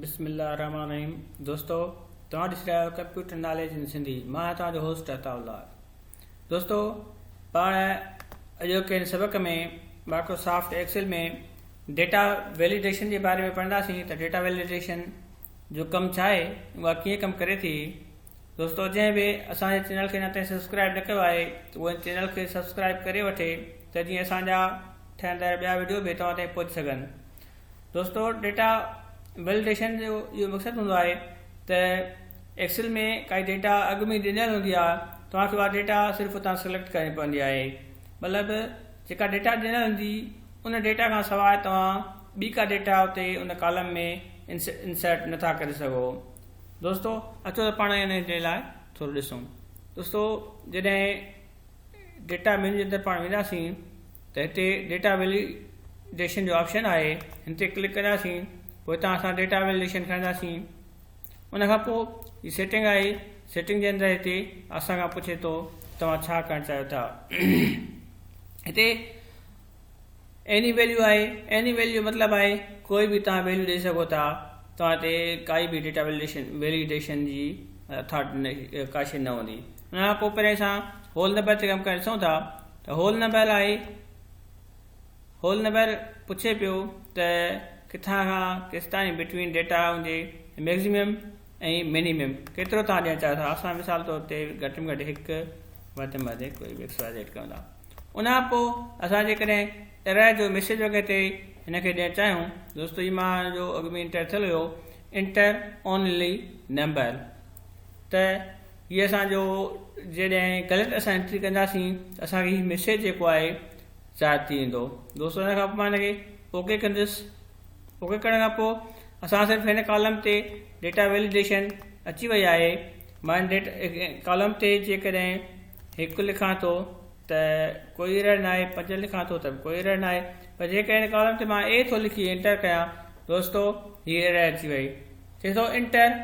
بسم الله الرحمن الرحيم دوستو توهان ڏسي رهيا آهيو ڪمپيوٽر ناليج ان سنڌي مان آهيان توهان جو هوسٽ عطا الله دوستو پاڻ اڄوڪي ان سبق ۾ مائڪروسافٽ ايڪسل ۾ ڊيٽا ويليڊيشن جي باري ۾ پڙهنداسين ته ڊيٽا ويليڊيشن جو ڪم ڇا آهي اها ڪيئن ڪم ڪري ٿي دوستو جنهن به اسان جي چينل کي اڃا تائين سبسڪرائب نه ڪيو آهي ته ان چينل کي سبسڪرائب ڪري وٺي ته جيئن اسان جا ٺهندڙ ٻيا ويڊيو به توهان تائين پهچي سگهن دوستو ڊيٽا ويلڊيشن جو اهو مقصد هوندو آهي ته ايڪسل ۾ ڪائي ڊيٽا اڳ ۾ ڏنل هوندي آهي توهان کي اها ڊيٽا صرف اتان سليڪٽ ڪرڻي پوندي آهي مطلب جيڪا ڊيٽا ڏنل هوندي ان ڊيٽا کان سواء توهان ٻي ڪا ڊيٽا اتي ان ڪالم ۾ انسرٽ نٿا ڪري سگهو دوستو اچو ته پاڻ هن جي لاء ٿورو ڏسون دوستو جڏهن ڊيٽا مينيو جي اندر پاڻ وينداسين ته هتي ڊيٽا ويليڊيشن جو آپشن آهي هن تي ڪلڪ ڪنداسين پوء هتان اسان ڊيٽا ويليڊيشن کڻنداسين ان کان پوء هي سيٽنگ آهي سيٽنگ جي اندر هتي اسان کان پڇي ٿو توهان ڇا ڪرڻ چاهيو ٿا هتي ايني ويليو آهي Any Value جو مطلب آهي ڪوئي به توهان ويليو ڏئي سگهو ٿا توهان تي ڪائي به ڊيٽا ويليڊيشن جي اٿارٽي ڪا شي نه هوندي ان کان پوء پهرين اسان هول نمبر تي ڪم ڪري ڏسون ٿا ته هول نمبر آهي هول نمبر پڇي پيو ته ڪٿان کان ڪيستائين بٽوين ڊيٽا هوندي ميگزيمم ۽ مينيمم ڪيترو توهان ڏيڻ چاهيو ٿا اسان مثال طور تي گهٽ ۾ گهٽ هڪ وڌ ۾ وڌ ڪوئي به ايڪس واء زيڊ ڪيون ٿا ان کان پوء اسان جيڪڏهن ايرر جو ميسيج وغيره تي هن کي ڏيڻ چاهيون دوستو جي مان جو اڳ ۾ انٽر ٿيل هيو انٽر اونلي نمبر ته هي اسان جو جڏهن غلط اسان انٽري ڪنداسين ته اسان کي هي ميسيج جيڪو آهي ظاهر ٿي ويندو دوستو ان کان پوء مان هن کي اوڪي ڪندس اوڪي ڪرڻ کان پوء اسان صرف هن ڪالم تي ڊيٽا ويليڊيشن اچي وئي آهي مان هن ڊيٽا ڪالم تي جيڪڏهن هڪ لکان ٿو ته ڪوئي ايرر نه آهي پنج لکان ٿو ته به ڪوئي ايرر نه آهي پر جيڪڏهن هن ڪالم تي مان اي ٿو لکي انٽر ڪيان دوستو هي ايرر اچي وئي چئي ٿو انٽر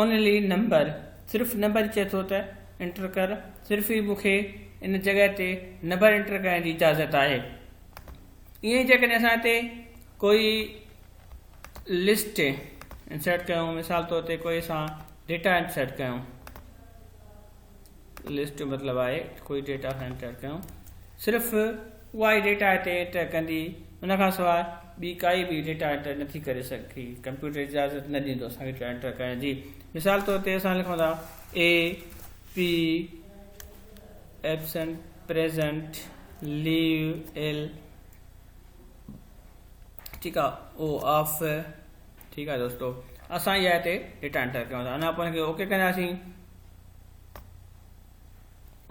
اونلي نمبر صرف نمبر چئي ٿو ته انٽر ڪر صرف ئي مونکي ان جڳهه تي نمبر انٽر ڪرڻ جي اجازت آهي ائين ئي جيڪڏهن اسان هتي ڪوئي لسٽ انسرٽ ڪيون مثال طور تي ڪوئي اسان ڊيٽا انسرٽ ڪيون لسٽ مطلب آهي ڪوئي ڊيٽا اسان انٽر ڪيون صرف اها ئي ڊيٽا هتي انٽر ڪندي ان کان سواء ٻي ڪائي به ڊيٽا انٽر نٿي ڪري سگهي ڪمپيوٽر اجازت نه ڏيندو اسان ڊيٽا انٽر ڪرڻ جي مثال طور تي اسان لکون ٿا A P absent, present, leave, L, ٺيڪ آ، او، آف، ٺيڪ آ دوستو اسان اها هتي ڊيٽا انٽر ڪيون ٿا انا پوء ان کي اوڪي ڪنداسين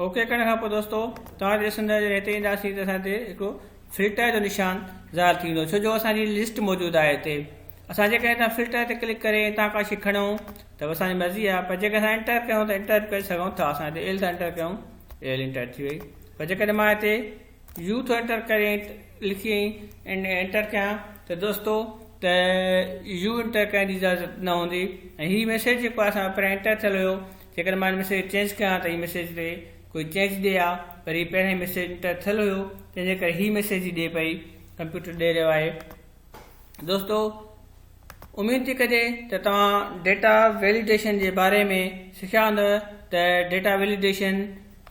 اوڪي ڪرڻ کان پوء دوستو توهان ڏسندا جڏهن هتي اينداسين ته اسان هتي هڪ فلٽر جو نشان ظاهر ٿيندو ڇو جو اسانجي لسٽ موجود آهي هتي اسان جيڪڏهن هتان فلٽر تي ڪلڪ ڪري هتان ڪا شئي کڻون ته به اسان جي مرضي آهي پر جيڪڏهن اسان انٽر ڪيون ته انٽر به ڪري سگهون ٿا اسان هتي ال ٿا انٽر ڪيون ال انٽر ٿي وئي پر جيڪڏهن مان هتي يو ٿو انٽر ڪري لکي ۽ انٽر ڪيان ته دوستو ته يو انٽر ڪرڻ جي اجازت نه هوندي ۽ هي ميسيج جيڪو اسان جو پهريان انٽر ٿيل هيو جيڪڏهن مان ميسيج چينج ڪيان ته هي ميسيج تي ڪوئي چينج ڏي ها پر هي پهريان ميسيج انٽر ٿيل هيو تنهن جي ڪري هي ميسيج ئي ڏي پئي ڪمپيوٽر ڏي رهيو آهي دوستو اميد ٿي ڪجي ته توهان ڊيٽا ويليڊيشن جي باري ۾ سکيا هوندو ته ڊيٽا ويليڊيشن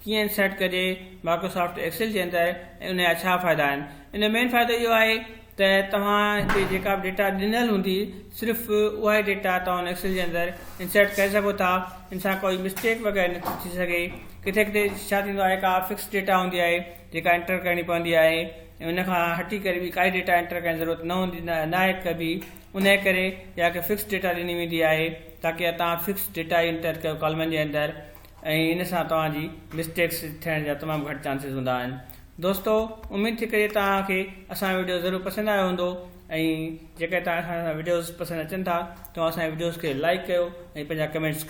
ڪيئن سيٽ ڪجي مائڪروسافٽ ايڪسل جي اندر ۽ ان جا ڇا فائدا آهن ان مين فائدو اهو آهي ته توهان کي جيڪا به ڊيٽا ڏنل هوندي صرف اها ئي ڊيٽا توهان ايڪسل جي اندر انسرٽ ڪري سگهو ٿا ان سان ڪوئي مسٽيڪ وغيرہ نه ٿي سگهي ڪٿي ڪٿي ڇا ٿيندو آهي ڪا فڪس ڊيٽا هوندي آهي جيڪا انٽر ڪرڻي پوندي آهي ان کان هٽي ڪري ٻي ڪائي ڊيٽا انٽر ڪرڻ جي ضرورت نه هوندي ناهي ڪبي انهي ڪري اها هڪ فڪس ڊيٽا ڏني ويندي آهي تاڪي اها توهان فڪس ڊيٽا ئي انٽر ڪيو ڪالمن جي اندر ۽ ان سان توهان جي مسٽيڪس ٿيڻ جا تمام گهٽ چانسز هوندا آهن دوستو اميد ٿي ڪري توهان کي اسان ويڊيو ضرور پسند آيو هوندو ۽ جيڪڏهن توهان کي اسان جا وڊيوز پسند اچن ٿا توهان اسان جي وڊيوز کي لائڪ ڪيو ۽ پنهنجا ڪمينٽس ڪيو